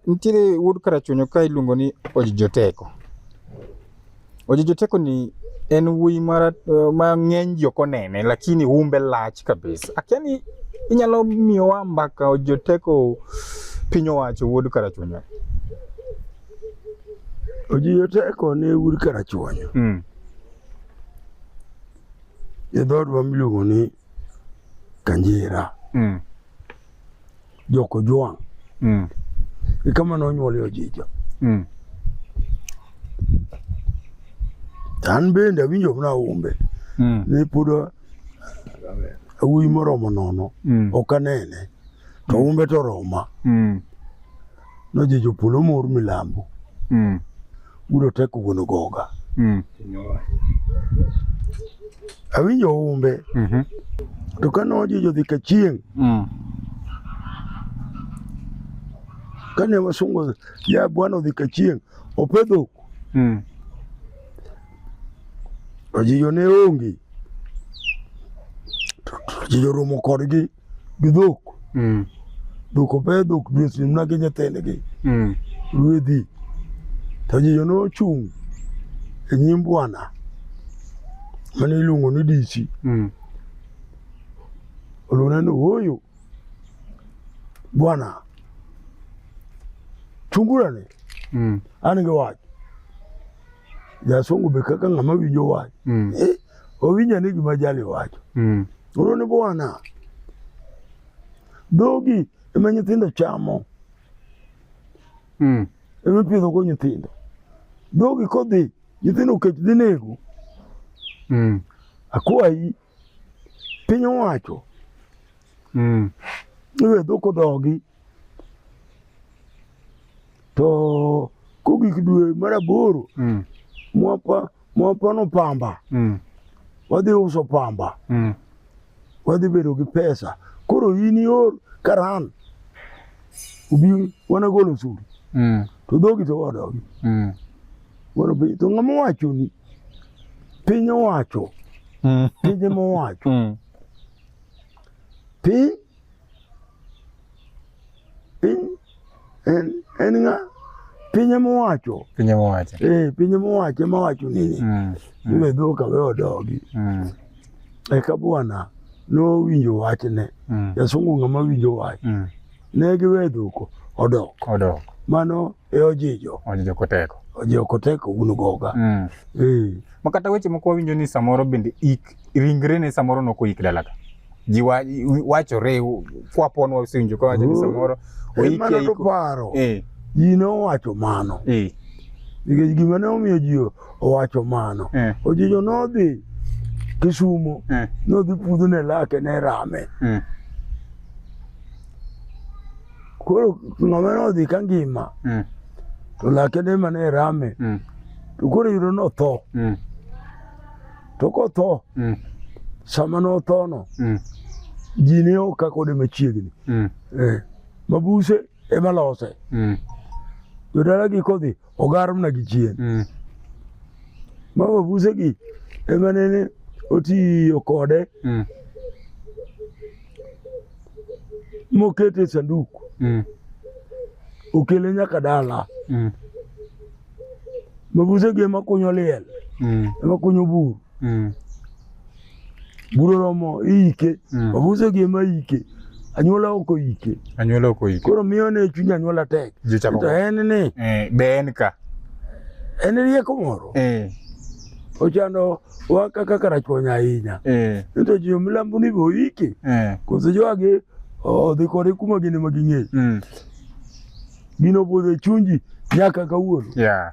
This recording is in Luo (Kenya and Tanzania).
Nitiere wuod Karachuonyo ka iluongo ni Ojijoteko. Ojijoteko ni en wuoyi mara eh, ma ng'eny ji ok onene lakini umbe lach kabisa. Akia ni inyalo miyowa mbaka Ojijoteko piny owacho wuod Karachuonyo. Ojijoteko ne wuod Karachuonyo. Mm. E dhoodwa miluongo ni Kanjira mm. Joko Jwang mm. ikama nonyuolie Ojija mm. an bende awinjo mana umbe mm. ni pod awuoyi moromo nono mm. ok anene to mm. umbe to roma mm. Noje jopolo mor milambo. Mm. Udo teko wuon ogoga. Mm. Awinjo humbe. Mm -hmm. To ka noje jodhi ka chieng'. Mm. Kane wasungo ya bwana odhi ka chieng' opedho. Mm. Ojiyo ne onge. Ojiyo romo kodgi. gi dhok mm. dhok ope dhok dweche mna gi nyithindgi mm. ruedhi to jijo nochung' e nyim bwana mane iluongo ni dichi mm. olona ni ooyo bwana chungurane mm. an gi wach jasungu be kaka ng'ama winjo wach mm. eh, owinja ni gima jali wacho mm. Oro ni bwana, dhogi ema nyithindo chamo mm. ema ipidhogo nyithindo. Dhogi kodhi nyithindo okech dhi nego mm. akwayi piny owacho mm. iwe dhok odogi to kogik dwe mar aboro mm. mwapa Mwapono pamba. Mm. Wadhi uso pamba. Mm. Wadhi bedo gi pesa. Koro in ior karan. Ubi wana golo suru. Mm. To dhogi to wadogi. Mm. Wana bi to ng'ama wacho ni piny owacho. Mm. Piny mowacho. Mm. Piny piny en en nga piny ema owacho piny ema owacho eh piny ema owacho ema wacho nini mm. mm. iwe dho ka we odogi mm. eka bwana nowinjo wachne mm. jasungu ng'ama winjo wach mm. ne giwe dhuko odok odok mano e ojijo ojijo koteko ojijo koteko un goga mm. eh. makata weche moko wawinjo ni samoro bende ik ringre ne samoro noko ik dalaga ji wachore kwapon wasinjo ka wacho ni oh. samoro oike mana to paro eh ji nowacho mano eh nikech gima ne omiyo ji owacho mano eh. ojijo nodhi Kisumo eh. nodhi pudho ne lake ne rame eh. koro ng'ama nodhi ka ngima eh. to lake ne mane rame mm. to koro yudo notho mm. To kotho mm. sama nothono mm. ji ne ok kakode machiegni mm. eh, mabuse ema lose mm. jodalagi kodhi ogar mna gi chien mm. ma mabusegi ema nene otiyo kode mm. mokete sanduku mm. okele nyaka dala mm. Mabusegi ema kunyo liel, mm. ema kunyo bur. Mm. Bur oromo iike, mm. mabusegi ema ike. Anyuola ok oike. Anyuola ok oike. Koro miyo ne chuny anyuola tek. To en ni. Eh, be en ka. En rieko moro. Eh. Ochando wa kaka karachuonya ahinya. Eh. Nito jo milambo ni be oike. Eh. Koso joage odhi kode kuma gin ema ging'eyo. Mm. Gino podho e chuny ji nyaka kawuono. Yeah.